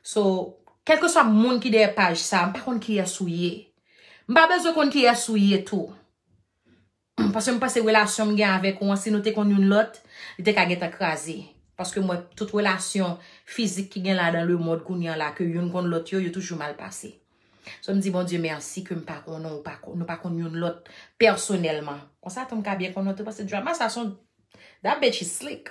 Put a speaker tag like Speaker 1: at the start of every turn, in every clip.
Speaker 1: So, kelke swa moun ki dèyè paj sa, m pa konn kiyès ou ye. M pa bezwen konn kiyès ou ye tou. Paske m panse relasyon m gen avèk ou an, si nou te konn youn lòt, li te ka gentan kraze. Paske m wè tout relasyon fizik ki gen la dan lemond kounye an la ke youn konn lòt yo, yo toujou mal pase. So m di Bondye mèsi ke m pa konnen ou, nou pa konn youn lòt pèsonèlman. Konsa tou m ka byen konnen w tou paske drama sa son, that bitch is slick.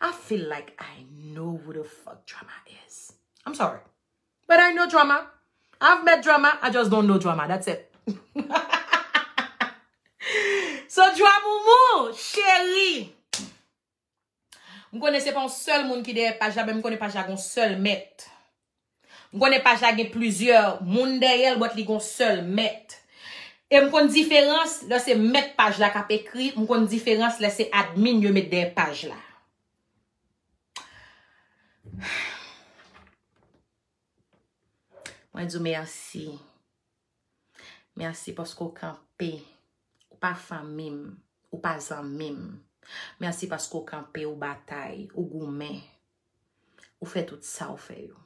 Speaker 1: I feel like I know who the fuck Drama is. I'm sorry. But I know Drama. I've met Drama. I just don't know Drama. That's it. So Dramoumou, chéri. M konnen se pa yon sèl moun ki dèyè paj la, men m konnen paj la gon sèl mèt. M konnen paj la gen plizyè moun dèyè l but li gon sèl mèt. E m konn diferans lè se mèt paj la k ap ekri, m konn diferans lè se admin yo met dèyè paj la. Mwen di w mèsi. Mèsi paske w kanpe. Ou pa fanmi m. Ou pa zanmi m. Mèsi paske w kanpe, ou batay, ou goumen. Ou fè tout sa ou fè yo.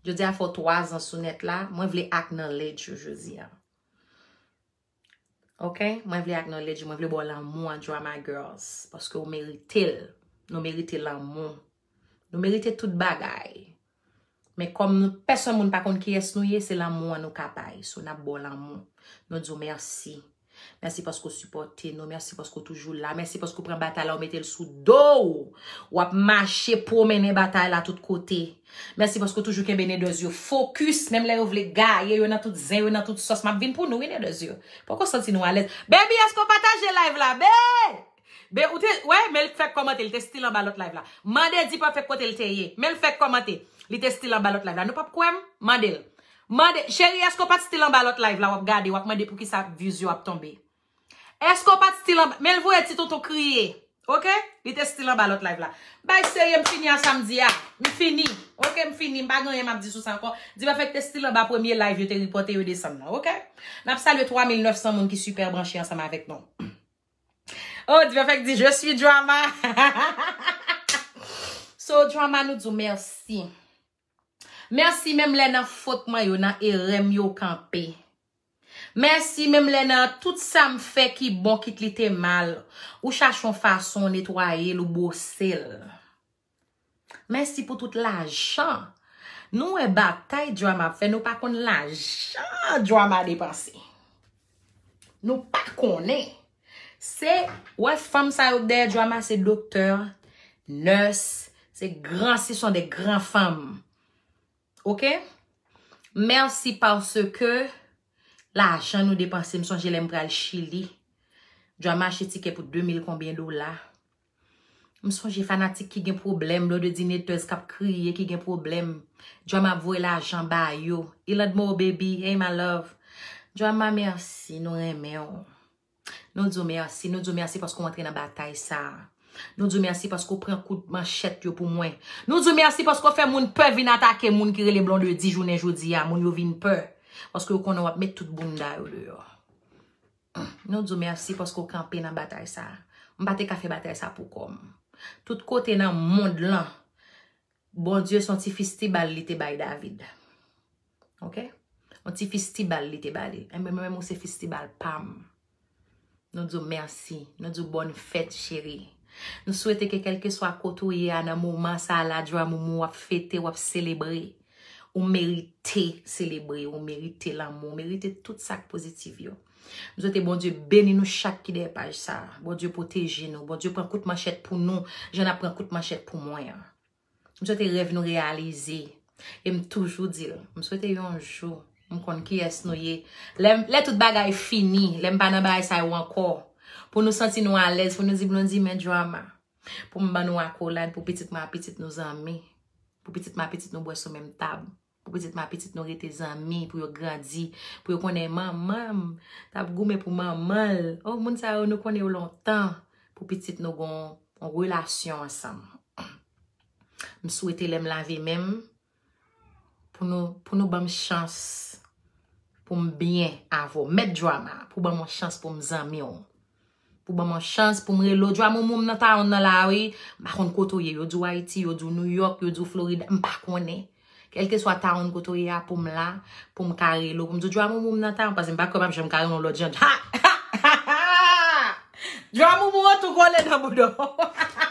Speaker 1: Jodi a fè w 3 zan sou nèt la, mwen vle acknowledge ou jodi a. Ok, mwen vle acknowledge ou, mwen vle ba w lanmou an Drama Girls, paske ou merite l. Nou merite lanmou. Nou merite tout bagay. Men kòm nou pèsonn moun pa konn kiyès nou ye, se lanmou an nou ka bay. So n ap ba w lanmou. Nou di w mèsi. Mèsi paske w sipòte nou. Mèsi paske w toujou la. Mèsi paske w pran batay la ou mete l sou do w. W ap mache pwomennen batay la tout kote. Mèsi paske w toujou kenbe Nedòz yo fokis menm lè yo vle gaye, yo nan tout zen, yo nan tout sòs. M ap vin pou nou wi Nedòz yo. Poko santi nou alèz. Baby èske w pataje live la bee? Be ou te wè men li t fèk kòmante li te still anba lòt live la mande dipafèk kote li te ye men li fèk kòmante li te still anba lòt live la nou pap kwè m mande l mande cheri èske ou pat still anba lòt live la wap gade wap mande poukisa views yo ap tonbe èske ou pat still anba men l voye ti tonton kriye ok li te still anba lòt live la bay serye m fini a sa m di a m fini ok m fini m pa gen anyen map di sou sa ankò dipafèk te still anba premye live yo te ripote yo desann nan ok nap salye 3900 moun ki super branche ansanm avèk nou. Oh Dipèfèk di je suis drama So drama nou di w mèsi Mèsi menm lè nan fot mwen yo nan erè m yo w kanpe Mèsi menm lè nan tout sa m fè ki bon kit li te mal ou chache yon fason w netwaye l ou bwose l. Mèsi pou tout lajan Nou wè batay drama ap fè nou pa konn lajan drama depanse Nou pa konnen Se wè fanm sa yo k dèyè drama se doktè nurse se gran se son de gran fanm ok Mèsi paske lajan nou depanse m sonje lè m pral chili drama achte tikè pou 2000 konbyen dola. M sonje fanatik ki gen pwoblèm, blodedinetèz k ap kriye ki gen pwoblèm. Joama ap voye lajan ba yo. Ilandmore baby, hey my love. Joama mèsi, nou renmen w. Nou di w mèsi, nou di w mèsi paske w antre nan batay sa a. Nou di w mèsi paske w pran kout manchèt yo pou mwen. Nou di w mèsi paske w fè moun pè vin atake moun ki rele blondedy jounen jodi a. Moun yo vin pè paske yo konnen w ap met tout bounda yo deyò. Nou di w mèsi paske w kanpe nan batay sa a. M pa te ka fè batay sa a pou kò m. Tout kote nan mond lan, Bondye se yon ti fistibal li te bay David. Ok? Yon ti fistibal li te ba li. Enben mwen menm ou se fistibal pa m. Nou di w mèsi. Nou di w bòn fèt cheri. Nou swete ke kèlkeswa kote ou ye a nan moman sa a la Djouamoumou w ap fete, w ap selebre. Ou merite selebre, ou merite lanmou, ou merite tout sak pozitif yo. M swete Bondye beni nou chak ki dèyè paj sa. Bondye pwoteje nou, Bondye pran kout manchèt pou nou, jan ap pran kout manchèt pou mwen an. M swete rèv nou reyalize. E m toujou di l, m swete yon jou, m konn kiyès nou ye. Lè tout bagay fini, lè m pa nan bagay sa yo ankò, pou nou santi nou alèz, pou nou di Blondie men drama. Pou m ban nou akolad, pou pitit m a pitit nou zanmi, pou pitit m a pitit nou bwè sou menm tab, pou pitit m a pitit nou rete zanmi, pou yo grandi, pou yo konnen manman m t ap goumen pou manman l. O, moun sa yo, nou konnen yo lontan, pou pitit nou gon yon relasyon ansanm. M swete lè m lave men m, Pou nou, pou nou banm chans pou m byen avè w. Mèt Drama, pou banm yon chans pou m zanmi w. Pou banm yon chans pou m rele w. Drama ou moun m nan towon nan la wi. M pa konn kote w ye. Yo di w Ayiti, yo di w New York, yo di w Florida. M pa konnen. Kèlkeswa towon kote w ye a pou m la. Pou m ka rele w. Pou m di w Drama ou moun m nan towon. Pase m pa kwè m ap janm ka rele w lòt jan. Ha! Ha! Ha! Ha! Drama ou moun an tou kole nan bouda w. Ha! Ha! Ha! Ha! Ha!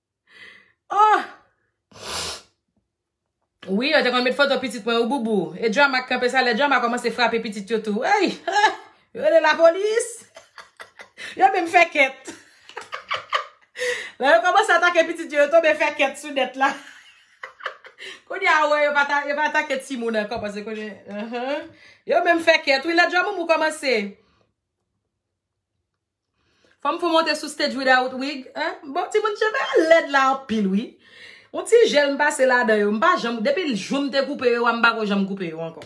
Speaker 1: Oh! Wi yo te konn met foto pitit mwen wi boubou. E drama k kanpe sa lè drama komanse frape pitit yo tou. Eyy! Yo rele lapolis! Yo menm fè kèt. Lè yo komanse atake pitit yo, yo tonbe fè kèt sou nèt la. Kounye a ou wè yo pa atake timoun ankò paske kounye a. Yo menm fè kèt wi lè drama mou komanse. Fòm fon monte sou stage without wig hein bon ti moun cheve a lèd la anpil wi yon ti jel m pase ladan yo m pa janm depi l jou m te koupe yo a m pako janm koupe yo ankò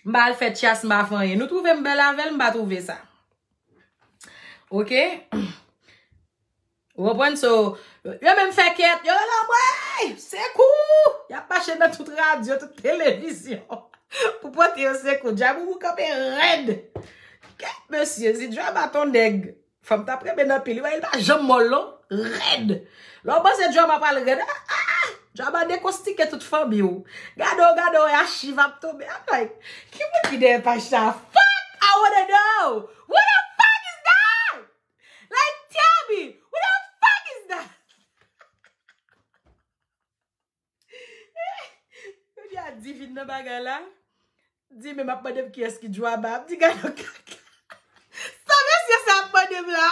Speaker 1: m pa al fè tyas m pa fè anyen nou twouve m bèl avèl m pa twouve sa ok. Ou konprann so, yo menm fè kèt, yo rele anmwey! Sekou! Yap mache nan tout radyo, tout televizyon pou pote yo sekou. Djaboubou kanpe rèd. Kèt mesye, si Djaba ton nèg, fanm tap renmen anpil. Li wè li pa janm mòl non. Rèd. Lè ou panse Djaba pral rèd, a a a! Djaba dekostike tout fanmi ou. Gade ou, gade ou, e achiv ap tonbe. I'm like, ki moun ki dèyè paj sa a? Fuck! I wanna know! Who the fuck is that? Like tell me who the fuck is that? Kounye a Divine nan bagay la. Di men map mandem ki eski djwaba ap di gado kaka. Sa mesye sa ap mandem la.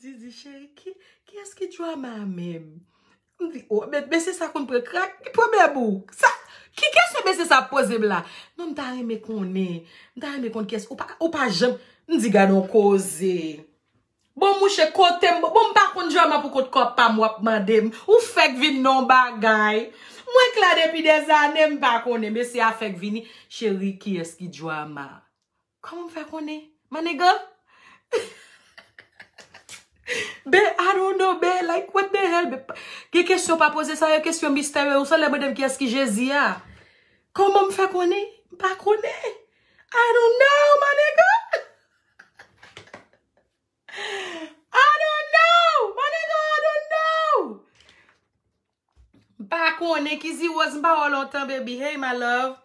Speaker 1: Didi cheri ki Kiyès ki drama a menm? M di o men mesye sa konn pran krak ki pwoblèm ou? Sa Ki kesyon mesye sa ap poze m la? Non m ta renmen konnen M ta renmen konn kiyès Ou pa ou pa janm M di gadon koze Bon mouche kote m Bon m pa konn drama pou kont kòp pa m w ap mande m Ou fèk vin nan yon bagay Mwen k la depi dèzane m pa konnen Mesye a fèk vini Cheri kiyès ki drama a? Koman m fè konnen? Maniga? Ben, I don't know, ben, like, what the hell, ben, gen kesyon pa poze sa yo, kesyon misterye, ou sa lè mande m kiyès ki Jezi a? Koman m fè konnen? M pa konnen. I don't know, maniga! I don't know! My nigga, I don't know! M pa konnen, Kizi Rose, m pa wè w lontan, baby. Hey, my love.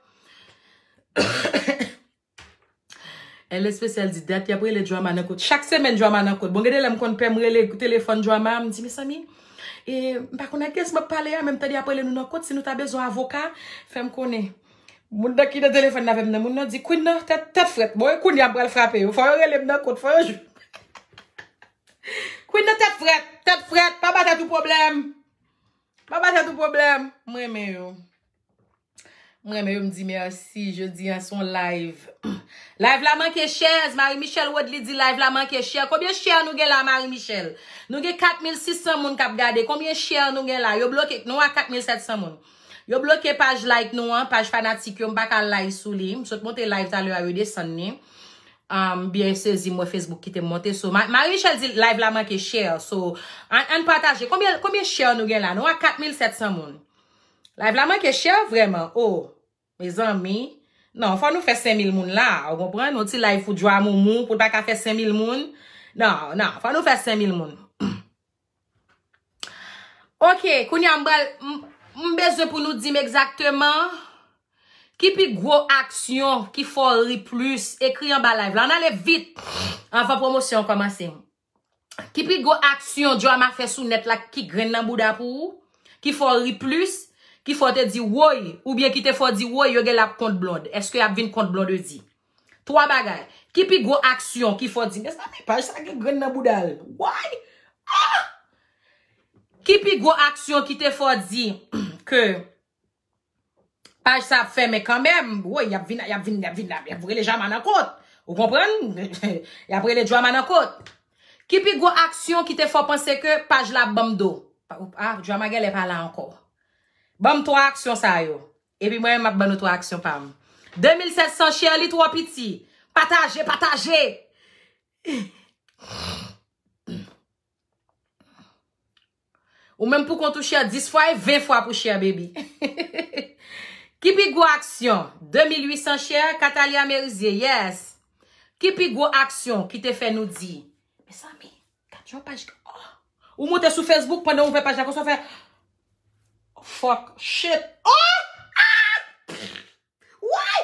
Speaker 1: Elle Especial di, dat y ap rele Drama nan kot. Chak semenn Drama nan kot. Bon, gen de lè m konn pè m rele telefòn Drama, m di, mezanmi, e m pa konnen ak ki yès m ap pale a, men m tande y ap rele nou nan kot, si nou ta bezwen avoka, fè m konnen. Moun nan ki nan telefòn nan avèm nan moun nan di Queen nan tèt tèt frèt bon e kounya pral frape yo fò yo relem nan kot fò yo jwenn Queen nan tèt frèt tèt frèt pa ba tèt ou problèm pa ba tèt ou problèm m renmen yo m renmen yo m di merci jodi an son live live la manke chèz Marie Michelle Rodley di live la manke chè konbyen chè nou gen la Marie Michelle nou gen 4600 moun kap gade konbyen chè nou gen la yo bloke nou a 4700 moun. Yo bloke paj like nou an, paj fanatik yo, m pa ka al live sou li. M sot monte live talè a yo desann ni. M byen sezi m wè Facebook kite m monte. So, Marie Michelle di live la manke share. So, ann pataje. Konbyen, konbyen share nou gen la? Nou a 4700 moun. Live la manke share vreman. Oh! Mezanmi Non fò nou fè 5000 moun la a ou konprann yon ti live pou Djwamoumou pou l pa ka fè 5000 moun nan nan fò nou fè 5000 moun Ok kounya m pral m bezwen pou nou di m egzakteman ki pi gwo aksyon ki fè w ri plis ekri anba live la an ale vit anvan pwomosyon an kòmanse Ki pi gwo aksyon Joama fè sou nèt la ki grenn nan bouda pou ou? Ki fè w ri plis? Ki fè w te di woy? Oubyen ki te fè w di woy yo genlè ap kont Blonde? Eske y ap vin kont Blondedy? Twa bagay. Ki pi gwo aksyon ki fè w di, mezanmi paj sa gen grenn nan bouda l. Woy! Ah! Ki pi gwo aksyon ki te fè w di ke. Paj sa ap fèmen kanmenm. Woy, y ap vin, y ap vin, y ap vin, y ap rele Jama nan kot. Ou konprann? Y ap rele Jama nan kot. Ki pi gwo aksyon ki te fè w panse ke paj la ap ban m do? A, Jama genlè pa la ankò. Ban m twa aksyon sa yo. Epi mwen menm m ap ban nou twa aksyon pa m. 2700 chè li twò piti. Pataje, pataje! Ou menm pou kont ou chè 10 fwa e 20 fwa pou chè baby. Ki pi gwo aksyon? 2800 chè, Catalia Merizier, yes. Ki pi gwo aksyon ki te fè nou di? Mezanmi, gad yon paj ki, oh! Ou moute sou Facebook pandan ou ouvè paj la konsa ou fè, Fuck, shit, oh! Ah! Pff! Woy!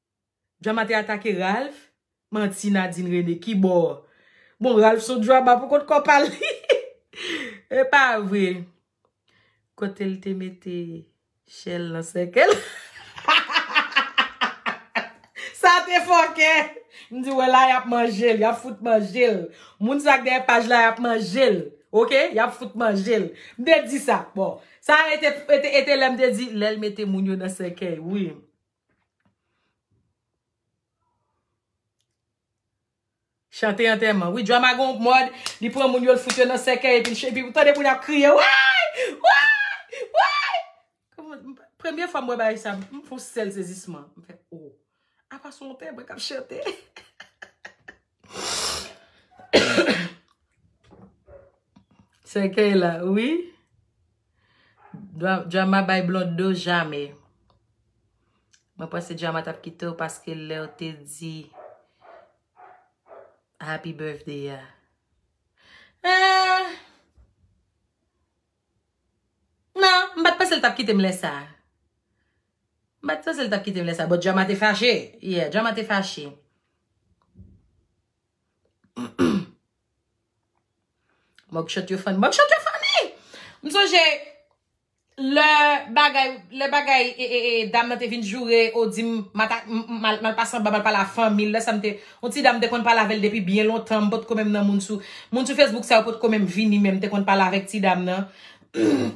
Speaker 1: Drama te atake Ralph? Manti Nadine Rene ki bò? Bon Ralph son drama pou kont kò pa li. Epa vre. Kotel te mete Shell nan sèkèl. Sa te fòkè. M di wè la yap manjel, yap fout manjel. Moun sa k dèyè paj la yap manjel. Ok yap fout manjel. M te di sa. Bon. Sa e te lè m te di lèl mete moun yo nan sèkèy wi. Chante antèman. Wi drama gen yon mòd li pran moun yo l fout yo nan sèkèy epi l epi ou tande moun ap kriye woy! Woy! Woy! Kòman premye fwa m wè bagay sa m fon sèl sezisman. M fè o! Apa s on pè mwen k ap chante? Sèkèy la wi. Drama bay blonde do jamè. Mwen panse drama tap kitew paske lew te di happy birthday ya. Eeh nan m pat panse l tap kitem lè sa. M pat panse l tap kitem lè sa but drama te fache. Yeah drama te fache. Mugshot yo funny. Mugshot yo funny! M sonje lè bagay, lè bagay e, e, e, dam nan te vin joure ou di m ma ta, m, m, mal, mal pa sanba, mal pa la fanmi l, lè sa m te, yon ti dam m te konn pale avè l depi byen lontan, m pot ko menm nan moun sou, moun sou Facebook sa yo pot ko menm vini menm, m te konn pale avèk ti dam nan.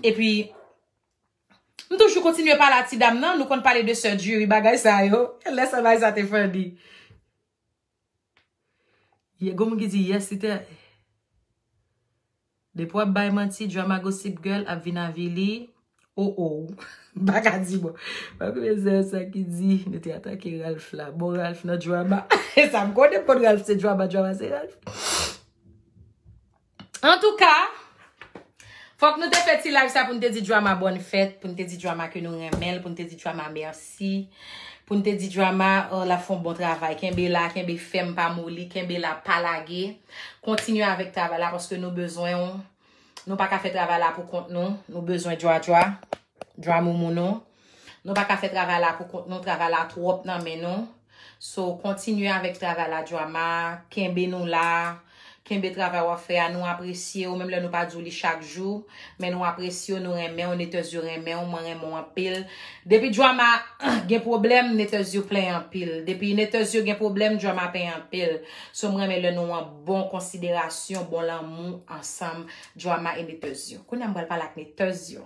Speaker 1: Epi, m toujou kontinye pale a ti dam nan, nou konn pale de sè Djuri, bagay sa yo. Lè sa bagay sa te funny. Ye gon moun ki di yes li te Depi wap bay manti drama gossip girl ap vin avili oh oh m pa ka di bon pa konnen zè sa ki di nou te atake Ralph la bon Ralph nan drama e sa m konnen m konn Ralph se drama drama se Ralph. Antouka, fòk nou te fè ti live sa pou nou te di Drama bòn fèt, pou nou te di Drama ke nou renmen l, pou nou te di Drama mèsi, pou nou te di Drama l ap fè yon bon travay. Kenbe la, kenbe fèm, pa moli, kenbe la, pa lage. Kontinye avèk travay la paske nou bezwen ou. Nou pa ka fè travay la pou kont nou. Nou bezwen Dradra. Dramoumoun nou. Nou pa ka fè travay la pou kont nou, travay la twòp nan men nou. So, kontinye avèk travay la Drama, kenbe nou la, kenbe travay wap fè a, nou apresye ou, menm lè nou pa di ou li chak jou, men nou apresye ou, nou renmen ou, Netezou renmen ou, mwen renmen ou anpil. Depi Drama gen pwoblèm, Netezou plen anpil. Depi Netezou gen pwoblèm, Drama plen anpil. So, mwen renmen lè nou an bon konsiderasyon, bon lanmou ansanm, Drama e Netezou. Kounye a m pral pale ak Netezou.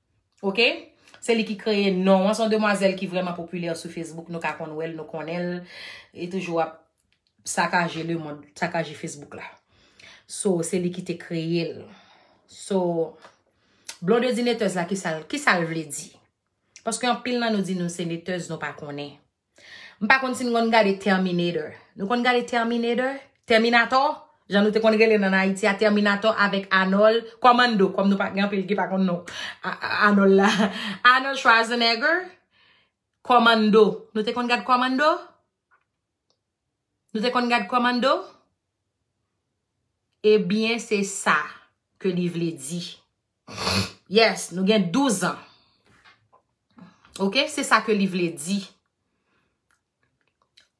Speaker 1: Ok Se li ki kreye non an Son demwazèl ki vrèman popilè sou Facebook Nou ka konn wèl nou konnen l E toujou ap sakaje le mond Sakaje Facebook la So se li ki te kreye l So Blondedine Tèz la ki sa l vle di Paske anpil nan nou di nou se netèz nou pa konnen M pa konn si nou konn gade Terminator. Nou konn gade Terminator? Tèminatò? Jan nou te konn rele l an Ayiti a, Tèminatò avèk Anòl, kòmando, kòm nou pa gen anpil ki pa konn non Anòl la. Anòl Schwarzenegger, kòmando. Nou te konn gad kòmando? Nou te konn gad Commando? Ebyen se sa ke li vle di. Yes, nou gen 12 ans. Ok, se sa ke li vle di.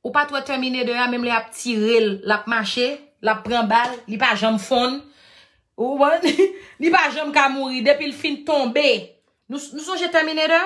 Speaker 1: Ou pa t wè Terminator a menm lè y ap tire l, l ap mache, l ap pran bal, li pa janm fonn. Ou konprann? Li pa janm ka mouri. Depi l fin tonbe. Nou sonje Terminator?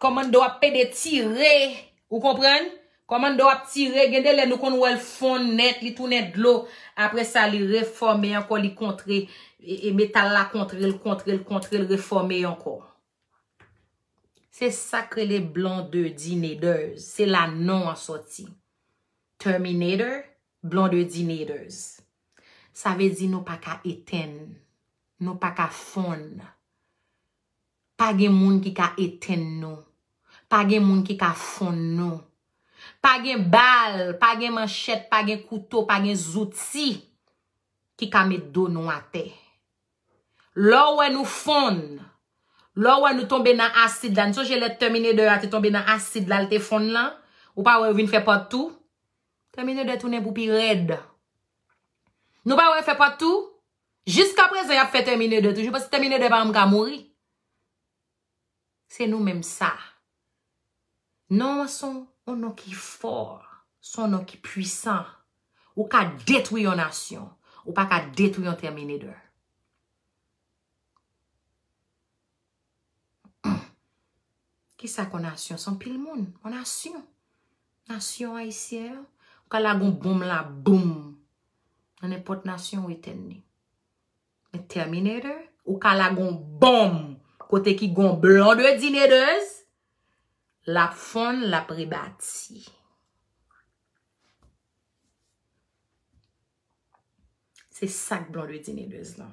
Speaker 1: Komando ap pede tire ou konprann komando ap tire gen de lè nou konn wèl fonn nèt li tounen dlo apre sa li refòme ankò li kontre e metal la kontrel kontrel kontrel refòme ankò se sak rele blondedinators se la non an sòti terminator blondedinators sa vle di nou paka etenn nou paka fonn Pa gen moun ki ka etenn nou. Pa gen moun ki ka fonn nou. Pa gen bal, pa gen manchèt, pa gen kouto, pa gen zouti ki ka met do nou atè. Lè w wè nou fonn, lè w wè nou tonbe nan asid la, n sonje lè Tèminedè a te tonbe nan asid la l te fonn lan, ou pa wè yo vin fè part two? Tèminedè tounen pou pi rèd. Nou pa wè fè part two? Jiska prezan yap fè tèmine 2 toujou paske tèmine 2 pa janm ka mouri. Se nou menm sa. Non an son on non ki fò. Son non ki pwisan. Ou ka detwi yon nasyon. Ou pa ka detwi yon tèmine 2. Ki sa kon nasyon? Son pil moun. On nasyon. Nasyon ayisyen an. Ou ka lagon bonm la boum. Nan e pot nasyon ou etèn ni. Men Terminator. Ou ka lagon bonm. Kote ki gon blon de dinedez. Lap fon, lap rebati. Se sak blon de dinedez lan.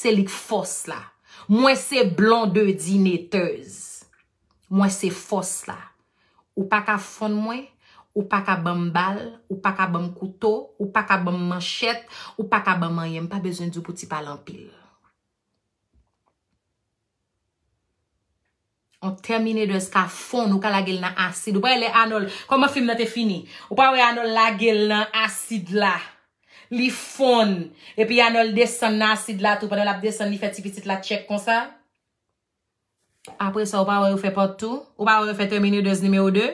Speaker 1: Se li k fòs la. Mwen se Blondedy Neteuse. Mwen se fòs la. Ou pa ka fonn mwen, ou pa ka ban m bal, ou pa ka ban m kouto, ou pa ka ban m manchèt, ou pa ka ban m anyen. M pa bezwen di w pou ti pale anpil. On terminator's ka fon ou ka lage l nan asid ou pa wè lè Arnold kòman fim nan te fini ou pa wè Arnold lage l nan asid la li fon epi Arnold desann nan asid la tou pandan lap desann li fè ti pitit la tchèk konsa apresa ou pa wè yo fè part 2 ou pa wè yo fè terminator's nimewo 2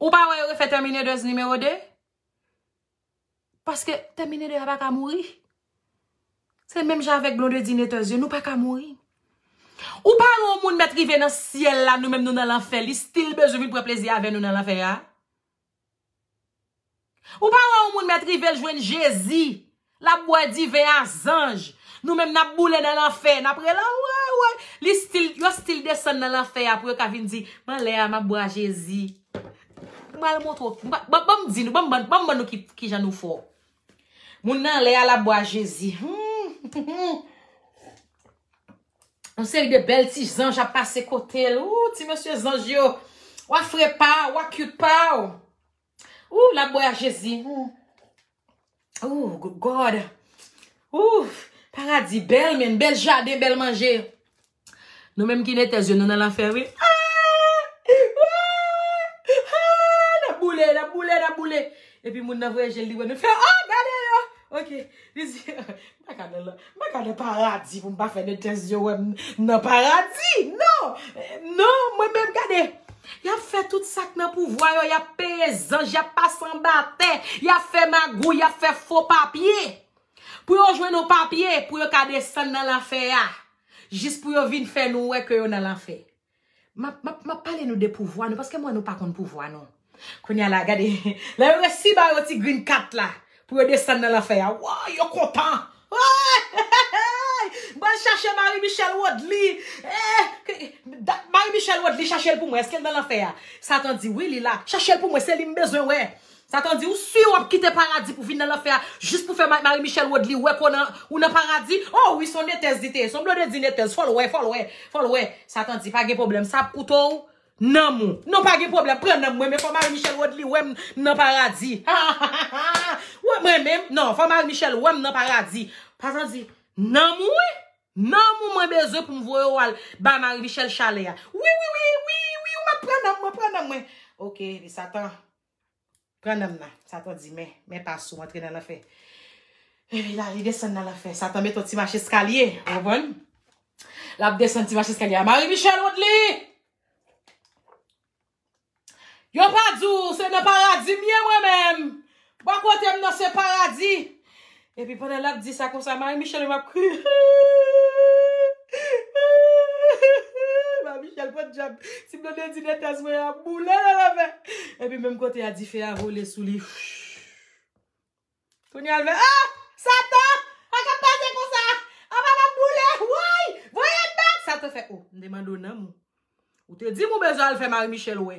Speaker 1: ou pa wè yo refè terminator's nimewo 2. Paske Terminator a pa ka mouri. Se menm jan avèk Blondedy Neters yo, nou pa ka mouri. Ou pa wè yon moun mèt rive nan syèl la, nou menm nou nan lanfè, li still bezwen vin pran plezi avè nou nan lanfè a? Ou pa wè yon moun mèt rive l jwenn Jezi, l ap bwè diven a zanj, nou menm n ap boule nan lanfè, n ap rele a woy woy, li still, yo still desann nan lanfè a pou yo ka vin di, m an lè a m ap bwè a Jezi. M pral montre w. Banm di nou, banm ban nou kijan nou fò. Moun nan anlè a l ap bwè a Jezi. Yon seri de bèl ti zanj ap pase kote l. Ooh ti mesye zanj yo. Wa fre pa w, wa cute pa w. Ooh l ap bwè a Jezi. Ooh good God. Ooh paradi bel men, bel jaden, bel manje. Nou menm ki netez yo nou nan lanfè wi. Epi moun nan vwe jel li wè nou fè oh gade yo. Ok. Mwen ka nan paradi pou m pa fè de tès yo wè m nan paradi. Non! Non! Mwen menm gade. Y ap fè tout sa k nan pouvwa yo. Y ap peye zanj. Y ap pase anba tè. Y ap fè magouy. Y ap fè fo papye. Pou yo jwenn yon papye. Pou yo ka desann nan lanfè a. Jis pou yo vin fè nou wè ke yo nan lanfè. Map pale nou de pouvwa nou paske m wè nou pa konn pouvwa nou. Kounya la gade lè yo resi ba yo ti green kat la pou yo desann nan lanfè a woy yo kontan wooyy bal chache Marie Michelle Rodely dat Marie Michelle Rodely chache l pou mwen eske l nan lanfè a satan di wi li la chache l pou mwen se li m bezwen wè Sa to di ou su wap kite paradi pou vin nan lanfè a jis pou fè Marie Michelle Rodely wè ke ou nan paradi oh wi son netez li te ye son blodedi netez fol wè fol wè fol wè sa to di pa gen problem sa ap koute w nanm ou non pa gen problem pran nanm mwen men fò Marie Michelle Rodely wè m nan paradi hahahaha mwen men non fò Marie Michelle wè m nan paradi sa to di nanm ou wi nanm ou mwen bezwen pou m voye w al bay Marie Michelle chalè a wi wi wi wi wi ou mèt pran nanm mwen pran nanm mwen ok li satan. Pran nanm nan. Satan di, men, men pas ou antre nan lanfè. Epi la, li desann nan lanfè. Satan met yon ti mache eskalye. Ou konprann? Lap desann ti mache eskalye a. Marie Michelle Woodley! Yo pa di w, se nan paradi m ye mwen menm. Bò kote m nan se paradi. Epi pandan lap di sa konsa Marie Michelle menm ap kriye ooh Marie Michelle podyab si Blondedine entès mwen ap boule nan lanfè epi menm kote a dife a vole sou li Kounye a l fè ah Satan sa kap pase konsa apa map boule woy voyem bat Satan fè oh m te mande w nanm ou te di m ou bezwen al fè Marie Michelle wè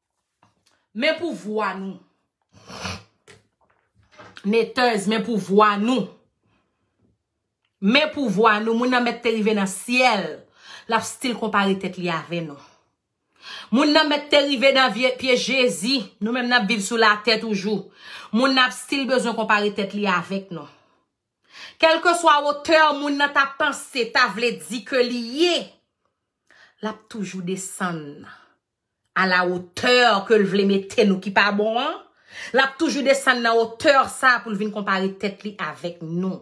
Speaker 1: Men pou vwa nou. Neters, men pou vwa nou. Men pou vwa nou. Moun nan mèt te rive nan syèl. L ap stil konpare tèt li avè nou. Moun nan mèt te rive nan vye pye Jezi. Nou menm n ap viv sou latè toujou. Moun nan ap stil bezwen konpare tèt li avèk nou. Kèlke swa otè moun nan ta panse, ta vle di ke li ye, l ap toujou desann. A la hauteur ke l vle mete nou ki pa bon an, l ap toujou desann nan hauteur sa pou l vin konpare tèt li avèk nou.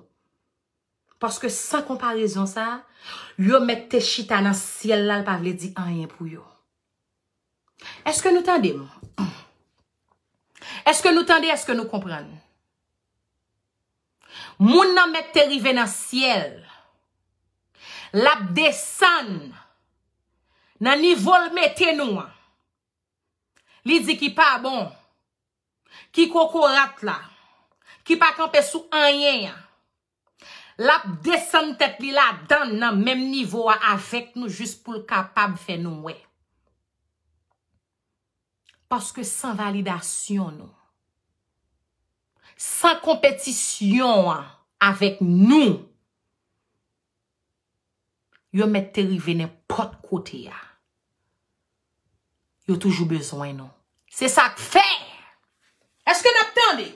Speaker 1: Paske san konparezon sa, yo mèt te chita nan syèl la l pa vle di anyen pou yo. Eske nou tande m? Eske nou tande, eske nou konprann? Moun nan mèt te rive nan syèl. L ap desann nan nivo l mete nou an. Li di ki pa bon, ki kokorat la, ki pa kanpe sou anyen an. Lap desann tèt li ladann nan menm nivo a avèk nou jis pou l kapab fè nou wè. Paske san validasyon nou. San konpetisyon an avèk nou. Yo mèt te rive nenpòt kote a. Yo toujou bezwen nou. Se sak fè! Eske nap tande?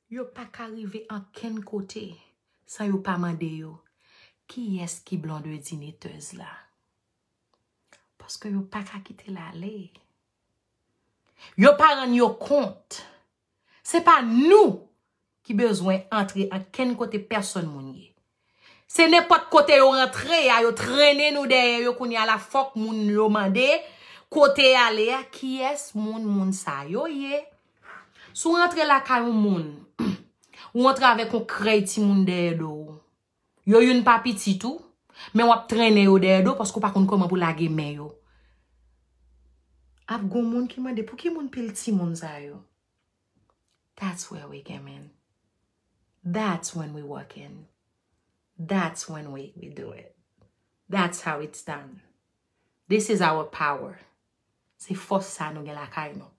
Speaker 1: Yo pa ka rive ankenn kote san yo pa mande yo kiyès ki blondedinitez la. Paske yo pa ka kite l ale. Yo pa rann yo kont. Se pa nou ki bezwen antre ankenn kote pèsòn moun ye. Se nenpòt kote yo rantre a, yo trennen nou dèyè yo kounye a la fòk moun yo mande kote y ale a, kiyès moun moun sa yo ye. Si w rantre lakay yon moun, ou rantre avèk yon krèy timoun dèyè do ou. Yo youn pa pitit ou, men w ap trennen yo dèyè do paske w pa konn kòman pou w lage men yo. Ap gon moun ki mande pou ki moun pil timoun sa yo? That's where we came in That's when we walk in That's when we do it That's how it's done This is our power Se fòs sa nou gen lakay nou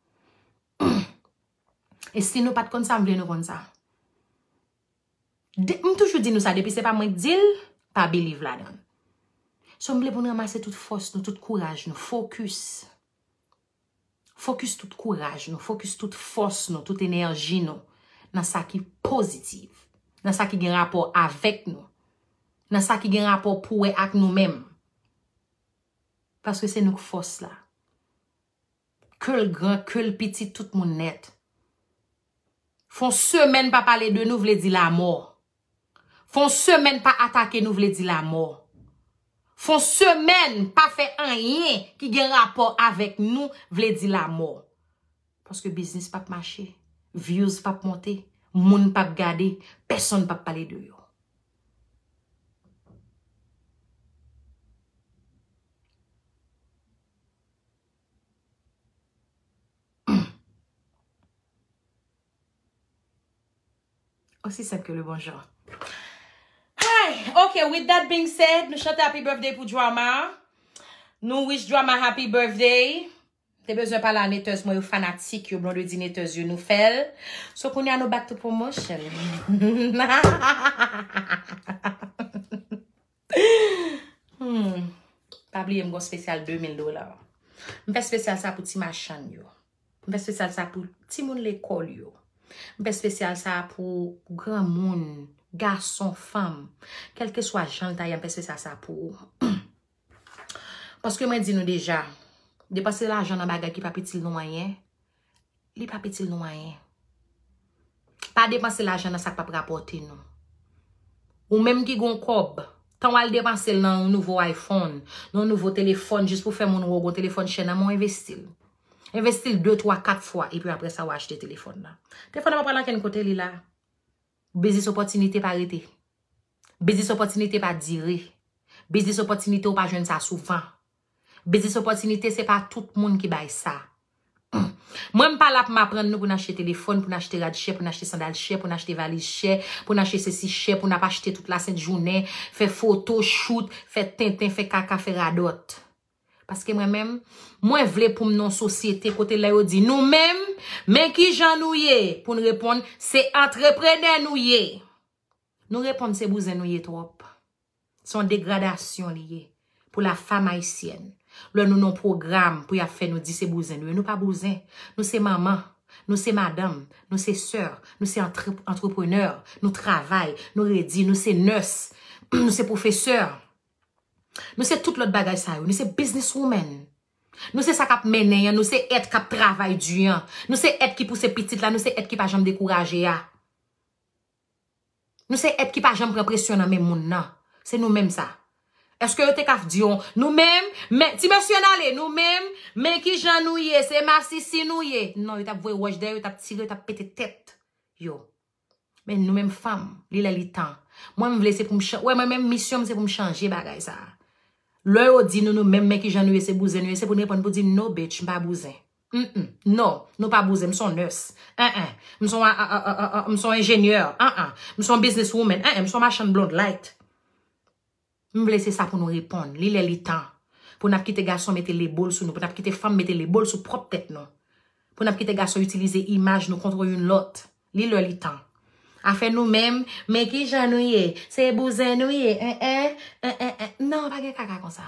Speaker 1: E si nou pat konn sa m vle nou konn sa M toujou di nou sa depi se pa mwen k di l pa believe la dan So m vle pou n ramase tout fòs nou tout kouraj nou Focus Fokis tout kouraj nou, fokis tout fòs nou, tout enèji nou nan sa ki pozitiv, nan sa ki gen rapò avèk nou, nan sa ki gen rapò pou wè ak nou menm. Paske se nou k fòs la. Ke l gran, ke l piti, tout moun nèt. Fon semèn pa pale de nou vle di lamò. Fon semèn pa atake nou vle di lamò. Fon semèn pa fè anyen ki gen rapò avèk nou vle di lamò. Paske biznis pap mache, views pap monte, moun pap gade, pèsonn pap pale de yo. Aussi simple que le bonjour. Hi! Ok, with that being said, nou chante happy birthday pou Drama. Nou wish Drama happy birthday. Te bezwen pale a Naters mwen yo, fanatik yo, Blondedy Naters yo, nou fèl. So kounye a nou back to promotion. Pa bliye m gon spesyal 2000 dola. M fè spesyal sa pou ti machann yo. M fè spesyal sa pou ti moun lekòl yo. M fè spesyal sa pou granmoun, gason, fanm. Kèlke swa jan l ta ye m fè spesyal sa pou ou. Paske mwen di nou deja, depanse lajan nan bagay ki pa pitil nou anyen. Li pap itil nou anyen. Pa depanse lajan nan sa k pap rapòte nou. Ou menm ki gon kòb, tan w al depanse l nan yon nouvo iPhone, nan yon nouvo telefòn jis pou fè moun wè w gon telefòn chè nan men w, envesti l. Envesti l 2, 3, 4 fwa epi apre sa w achte telefòn nan. Telefòn nan pa pral ankenn kote, li la. Biznis opòtinite pa rete. Biznis opòtinite pa dire. Biznis opòtinite ou pa jwenn sa souvan. Biznis opòtinite se pa tout moun ki bay sa. Mwen m pa la pou m aprann nou pou n achte telefòn, pou n achte rad chè, pou n achte sandal chè, pou n achte valiz chè, pou n achte sesi chè, pou n ap achte tout lasent jounen, fè foto, shoot, fè tenten, fè kaka, fè radòt. Paske mwen menm, mwen vle pou m nan yon sosyete kote lè yo di nou menm, men ki jan nou ye, pou n reponn se antreprenè nou ye. Nou reponn se bouzen nou ye twòp. Se yon degradasyon li ye pou la fam ayisyèn. Lè nou nan pwogram pou yap fè nou di se bouzen nou ye. Nou pa bouzen. Nou se manman. Nou se madanm. Nou se sè. Nou se antreprenè. Nou travay. Nou redi. Nou se nès. Nou se pwofesè. Nou se tout lòt bagay sa yo. Nou se biznis women. Nou se sa kap mennen an. Nou se èt kap travay di an. Nou se èt ki pouse pitit la. Nou se èt ki pa janm dekouraje a. Nou se èt ki pa janm pran presyon nan men moun nan. Se nou menm sa. Eske yo te ka di yon, nou menm, men, ti mesye n ale, nou menm, men ki jan nou ye, se masisi nou ye. Non, yo t ap voye wòch dèyè yo, yo t ap tire, yo t ap pete tèt yo. Men nou menm fanm, li lè li tan. Mwen m vle se pou m chan, wè mwen menm misyon m se pou m chanje bagay sa a. Lè yo di nou nou menm men ki jan nou ye se bouzen nou ye, se pou n reponn pou di no bitch m pa bouzen. Mph non, nou pa bouzen, m s on nurse enh m s on a a a m s on enjenyè enh m s on business woman enh m s on machann blond light. M vle se sa pou nou reponn. Li lè li tan pou n ap kite gason mete lebo l sou nou, pou n ap kite fanm mete lebo l sou pwòp tèt nou, pou n ap kite gason itilize imaj nou kontr youn lòt. Li lè li tan. Afè nou menm, men ki jan nou ye, se bouzen nou ye enh enh enh enh enh nan pa gen kaka konsa.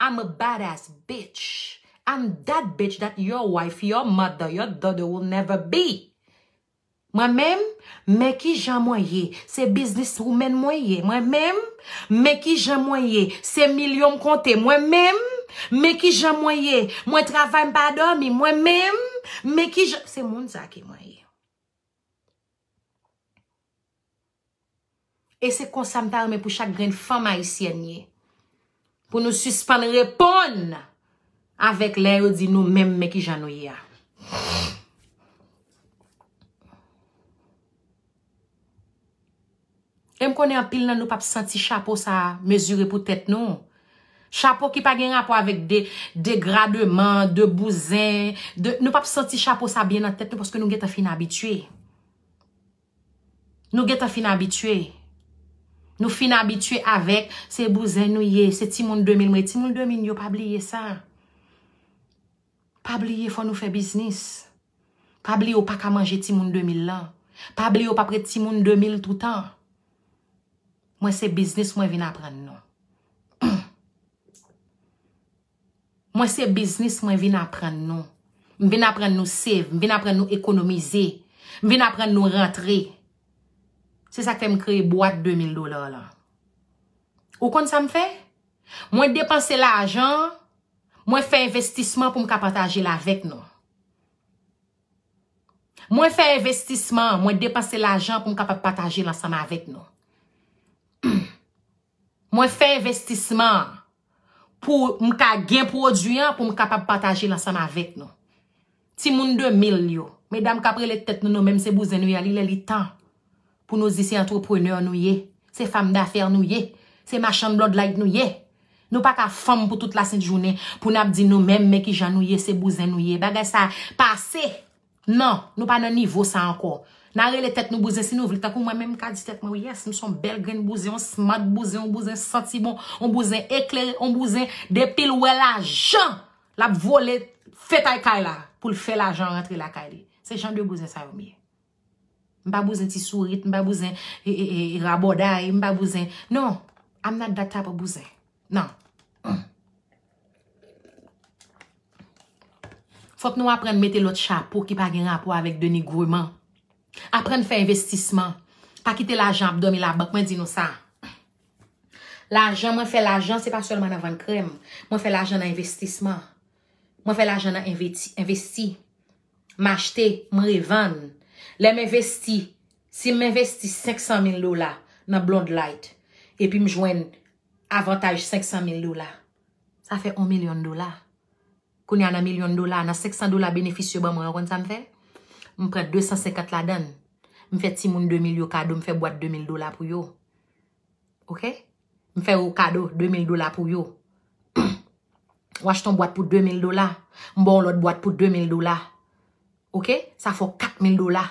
Speaker 1: I'm a bad ass bitch I'm that bitch that your wife, your mother, your daughter will never be Mwen menm Men kijan mwen ye Se business woman mwen ye Mwen menm Men kijan mwen ye Se milyon m konte Mwen menm Men kijan mwen ye Mwen travay m pa dòmi Mwen menm Men kijan Se moun sa ki mwen ye E se konsa m ta renmen pou chak grenn fanm ayisyèn ye. Pou nou sispann reponn avèk lè yo di nou menm men ki jan nou ye a. E m konnen anpil nan nou p ap santi chapo sa a mezire pou tèt nou. Chapo ki pa gen rapò avèk degrademan, de bouzen, de nou p ap santi chapo sa a byen nan tèt nou paske nou gentan fin abitye. Nou gentan fin abitye. Nou fin abitye avèk se bouzen nou ye, se timoun 2000 mwen ye. Timoun 2000 yo pa bliye sa. Pa bliye fò nou fè biznis. Pa bliye ou pa ka manje timoun 2000 lan. Pa bliye ou pa pre timoun 2000 toutan. Mwen se biznis mwen vin aprann nou. Mwen se biznis mwen vin aprann nou. M vin aprann nou save, m vin aprann nou ekonomize, m vin aprann nou rantre. Se sa k fè m kreye bwat 2 mil dola lan. Ou konn sa m fè? Mwen depanse lajan an, mwen fè envestisman pou m ka pataje l avèk nou. Mwen fè envestisman, mwen depanse lajan an pou m kapab pataje l ansanm avèk nou. Mwen fè envestisman, pou m ka gen pwodui an pou m kapab pataje l ansanm avèk nou. Timoun 2000 yo, medam k ap rele tèt nou nou menm se bouzen nou ye a li lè li tan pou nou di se antreprenè nou ye, se fam dafè nou ye, se machann blòdlayt nou ye. Nou pa ka fanm pou tout lasent jounen pou n ap di nou menm men ki jan nou ye se bouzen nou ye. Bagay sa pase! Non, nou pa nan nivo sa ankò. Nan rele tèt nou bouzen si nou vle. Tankou mwen menm m ka di tèt mwen yes, m son bèl grenn bouzen, yon smart bouzen, yon bouzen santi bon, yon bouzen eklere, yon bouzen depi l wè lajan, l ap vole fetay kay la pou l fè lajan rantre lakay li. Se jan de bouzen sa yo m ye. M pa bouzen ti sourit, m pa bouzen rabòday, m pa bouzen. Non, I'm not that type of bouzen. Nan. Fòk nou aprann mete lòt chapo ki pa gen rapò avèk denigreman. Aprann fè envestisman. Pa kite lajan ap dòmi labank. Mwen di nou sa. Lajan mwen fè lajan se pa sèlman nan vann krèm. Mwen fè lajan nan envestisman. Mwen fè lajan nan envesti. M achte, m revann. Lè m envesti, si m envesti 500 mil dola nan blond light, epi m jwenn Avantaj 500 mil dola. Sa fè on milyon dola. Kounye a nan milyon dola a, nan 500 dola benefis yo ban mwen an, ou konn sa m fè? M pran 250 ladann. M fè timoun 2 mil yo kado, m fè bwat 2 mil dola pou yo. Ok? M fè yo kado 2 mil dola pou yo. Ou achte on bwat pou 2 mil dola, m ba w lòt bwat pou 2 mil dola. Ok sa fè w 4 mil dola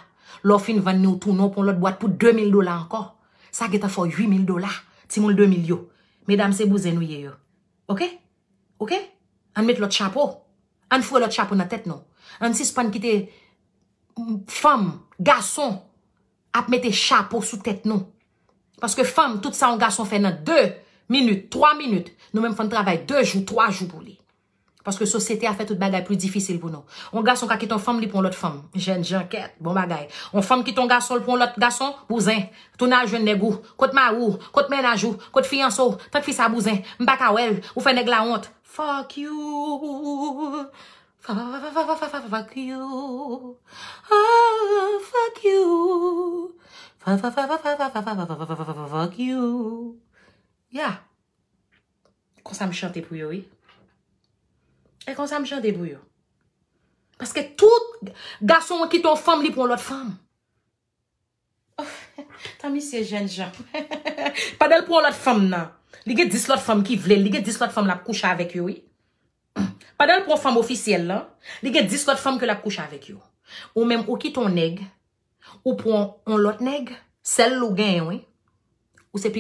Speaker 1: lè w fin vann ni w tounen w pran yon lòt bwat pou 2 mil dola ankò sa gentan fè w 8 mil dola timoun 2 mil yo medam se bouzen nou ye yo ok ok ann met lòt chapo ann foure lòt chapo nan tèt nou ann sispann kite fanm gason ap mete chapo sou tèt nou paske fanm tout sa yon gason fè nan 2 minit 3 minit nou menm fò n travay 2 jou 3 jou pou li. Paske sosyete a fè tout bagay pli difisil pou nou. Yon gason ka kite yon fanm li pou yon lòt fanm. Jènjan kèt, bon bagay. Yon fanm kite yon gason l pou yon lòt gason, bouzen. Tounen al jwenn nèg ou. Kot mari w? Kot mennaj ou? Kot fiyanse w? Tank fi sa bouzen. M pa ka wè l. Ou fè nèg la wont. Fuck you. Fuck you. Ooh fuck you. Fuck you. Yeah. Konsa m chante pou yo wi. E konsa m chante pou yo. Paske tout gason an kite yon fanm li pran lòt fanm. Tan misye jèn jan. Pandan l pran lòt fanm nan. Li gen 10 lòt fanm ki vle l. Li gen 10 lòt fanm l ap kouche avèk yo wi. Pandan l pran fanm ofisyèl lan. Li gen 10 lòt fanm ke l ap kouche avèk yo. Ou menm ou kite yon nèg. Ou pran yon lòt nèg. Sèl ou genyen wi. Ou se pi.